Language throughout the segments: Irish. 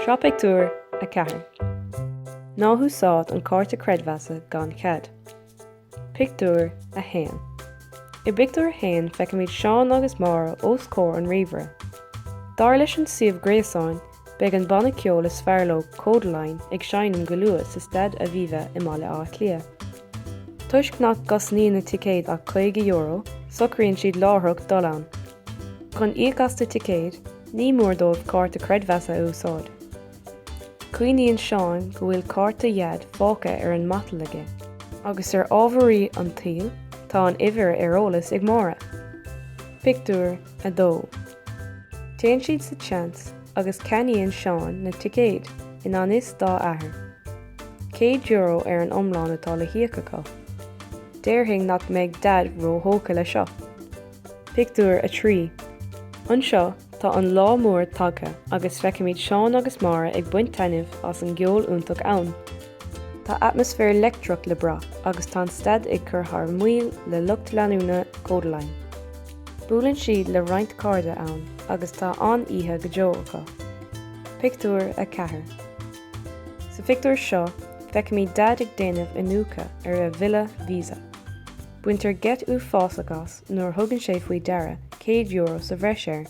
Sraith Pictiúr 4 Ná húsáid an cárta creidmheasa gan chead. Pictiúr 1 I bpictiúr a haon feicimid Seán agus Máire os comhair an ríomhaire. Dar leis an suíomh gréasáin Beidh an banna ceoil is fearr leo Kodaline ag seinm go luath sa Staid Aviva i mBaile Átha Cliath. Toisc nach gcosnaíonn na ticéid ach €50, socraíonn siad láithreach dul ann. Chun íoc as na ticéid, ní mór dóibh cárta creidmheasa a úsáid. Cuimhníonn Seán go bhfuil cárta Dhaid fágtha ar an matal aige. Agus ar ámharaí an tsaoil, tá an uimhir ar eolas ag Máire. Pictiúr 2. Téann siad sa tseans agus ceannaíonn Seán na ticéid i ngan fhios dá athair. Céad euro ar an iomlán atá le híoc acu. Déarfainn nach mbeidh Daid ró-thógtha le seo! Pictiúr 3 Anseo, tá an lá mór tagtha agus feicimid Seán agus Máire ag baint taitneamh as an gceol iontach ann. Tá atmaisféar leictreach le brath agus tá an staid ag cur thar maoil le lucht leanúna Kodaline. Buaileann siad le roinnt cairde ann agus tá an-oíche go deo acu. Pictiúr 4. Sa phictiúr seo, feicimid Daid ag déanamh iniúchadh ar a bhille Visa. Baintear geit uafásach as nuair a thugann sé faoi deara €100 sa bhreis air.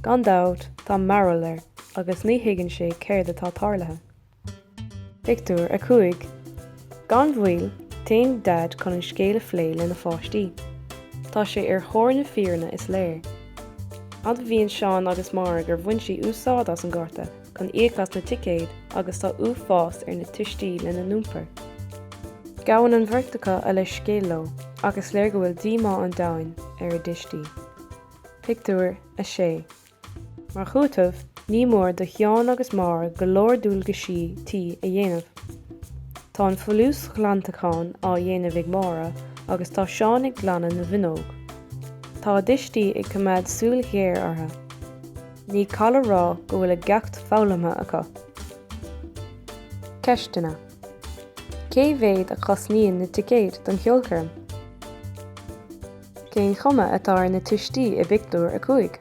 Gan dabht, tá mearbhall air agus ní thuigeann sé céard atá tarlaithe. Pictiúr 5 Gan mhoill, téann Daid chun an scéal a phlé lena pháistí. Tá sé ar thóir na fírinne, is léir. Admhaíonn Seán agus Máire gur bhain sí úsáid as an gcárta chun íoc as na ticéid agus tá uafás ar na tuistí lena n-iompar. Gabhann an bheirt acu a leithscéal leo ach is léir go bhfuil díomá an domhain ar a dtuistí. Pictiúr 6 Mar chúiteamh, ní mór do Sheán agus Máire go leor dualgaisí tí a dhéanamh. Tá an folúsghlantachán á dhéanamh ag Máire agus tá Seán ag glanadh na bhfuinneog. Tá a dtuistí ag coimeád súil ghéar orthu. Ní call a rá go bhfuil a gceacht foghlamtha acu. Ceisteanna Cé mhéad a chosnaíonn na ticéid don cheolchoirm? Cén chuma atá ar na tuistí i bpictiúr a cúig?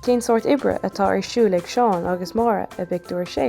Cén sórt oibre atá ar siúl ag Seán agus Máire i bpictiúr a sé?